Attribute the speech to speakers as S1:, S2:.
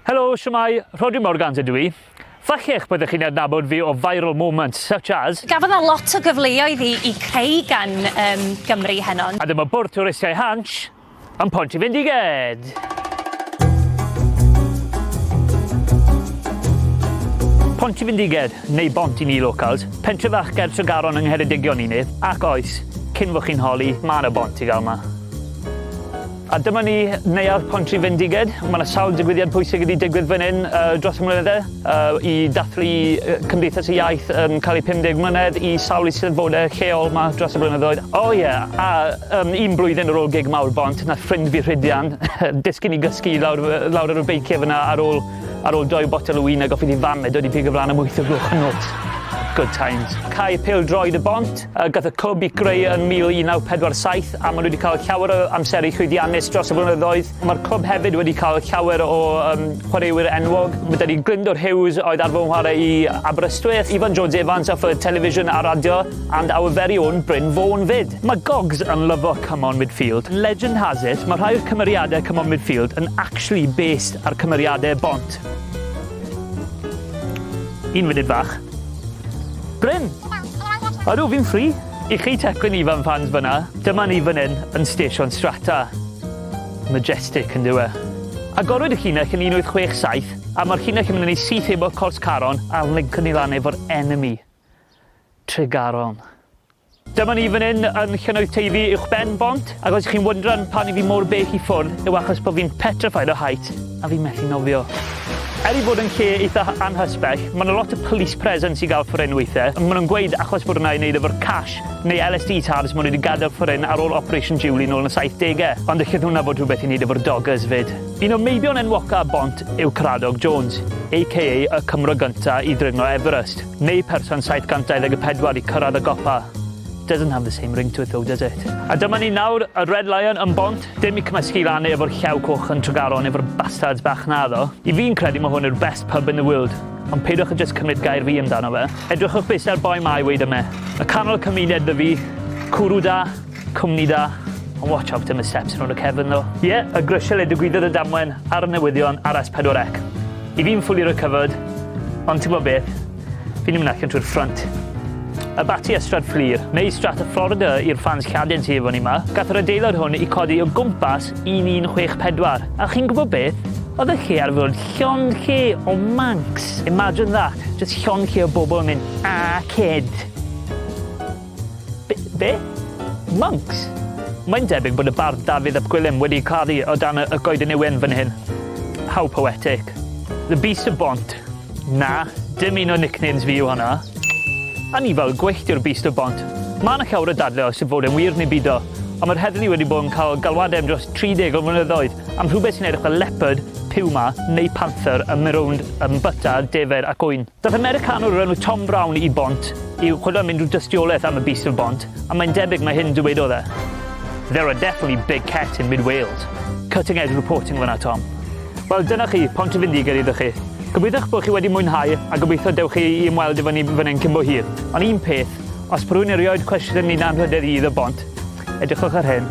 S1: Helo, shwmae, Rhodri Morgans ydw i. Falle eich byddwch chi'n adnabod fi o viral moments such as... Gafodd na lot o
S2: gyfleoedd i, i creu gan um, Gymru heno. A dyma bwrdd twristiau
S1: Hansh yn Pont i Fendiged. Pont i Fyndiged, neu Bont i ni locals, pentre fach ger Tregaron yng Ngheredigion i ni, ac oes, cyn fo chi'n holi, mae yna bont i gael yma. A dyma ni, Neuadd Pontrhyfendiged. Ma' 'na sawl digwyddiad pwysig wedi digwydd fan 'yn yy dros y mlynydde yy i dathlu yy Cymdeithas y Iaith yn ca'l ei 50 mlynedd i sawl Eisteddfode lleol 'ma dros y blynyddoedd. O ie, a yym un blwyddyn ar ôl gig mawr Bont nath ffrind fi Rhidian disgyn i gysgu lawr yy lawr ar y beicie fan 'na ar ôl ar ôl doi botel o win a goffi ddi fam e dod i pigo flan am wyth o'r gloch y nos. Good times. Cau pêl-droed y Bont. a gath y clwb i greu yn 1947 a maen nhw wedi cael llawer o amseru llwyddiannus dros y blynyddoedd. Mae'r clwb hefyd wedi cael llawer o um, chwaraewyr enwog. Mae dydi Glyndwr Hughes oedd ar fy ngwarae i Aberystwyth, Ifan Jones Evans off y television a radio, and our very own Bryn Fôn fyd. Mae Gogs yn lyfo come on midfield. Legend has it, mae rhai o'r cymeriadau come on midfield yn actually based ar cymeriadau bont. Un funud fach. Bryn! Ydw, fi'n free! I chi teclyn ifan fans fynna, dyma ni fan hyn yn Stesion Strata. Majestic, yn dyw e? Agorwyd y llinell yn 1867 a ma'r llinell yn mynd yn ei syth hebo'r Cors Caron a'r Lincoln i lan efo'r Enemy. Tregaron. Dyma ni fan hyn yn Llynnoedd Teifi uwchben bont, ac os chi'n wyndran pam i fi mor bell i ffwrdd yw achos bod fi'n petrified o height. A fi'n methu nofio. Er ei bod yn lle eitha anhysbell, mae 'na lot o police presence i gael fforin weithiau, ond maen nhw'n gweud achos bod hwnna i wneud efo'r cash neu LSD tabs maen nhw 'di gadael fforin ar ôl Operation Julie nôl yn y saithdegau, ond ellith hwnna fod rhywbeth i wneud efo'r doggers 'fyd. Un o'r meibion enwoca ar Bont yw Caradog Jones, aka y Cymro gynta i ddringo Everest, neu person 724 i cyrraedd y gopa. Doesn't have the same ring to it though, does it? A dyma ni nawr, y Red Lion yn Bont. Dim i cymysgu lan efo'r Llew Coch yn Tregaron efo'r bastards bach naddo. I fi'n credu ma hwn yw'r best pub in the world. Ond peidiwch a jyst cymryd gair fi amdano fe. Edrychwch byth ar boi ma i weud yme. Y canol cymuned dw i. Cwrw da. Cwmni da. Ond watch out am y steps rownd y cefn ddo. Ie, y grisiau le digwyddodd y damwain ar y newyddion ar S4C. I fi'n fully recovered. Ond ti'n gwybod beth? Fi'n mynd allan trwy'r ffrynt. A bati a Strad Fflur, neu Strat y Florida i'r ffans Lladin sydd efo ni yma, gath yr adeilad hwn i codi o gwmpas 1164. A chi'n gwybod beth? Oedd y lle ar fod llond lle o Manx. Imagine that, just llond lle o bobl yn mynd, 'Arcade'. Be? Be? Monks? Mae'n debyg bod y bardd Dafydd ap Gwilym wedi caru o dan y Goeden Ywen fan hyn. How poetic. The Beast of Bont. Na, dim un o nicknames fi yw honna. A ni fel gweithiwr Beast of Bont. Mae yna llawer o dadle os yw fod e'n wir neu bido, ond mae'r heddlu wedi bod yn cael galwadau am dros 30 o flynyddoedd am rhywbeth sy'n edrych fel leopard, puma neu panther yn mynd rownd yn byta defaid ac ŵyn. Daeth Americanwr o'r enw Tom Brown i Bont i'w chwilio am unrhyw dystiolaeth am y Beesil Bont, a mae'n debyg mai hyn dywedodd e, There are definitely big cat in mid Wales. Cutting edge reporting fan'na Tom. Wel dyna chi, Pont y Fendigaid iddo chi. Gobeithiwch bod chi wedi mwynhau a gobeithio dewch chi i ymweld efo ni fan hyn cyn bo hir. Ond un peth, os bod rhywun yn rioed cwestiwn yn ni'n anrhydedd i iddo Bont, edrychwch ar hyn.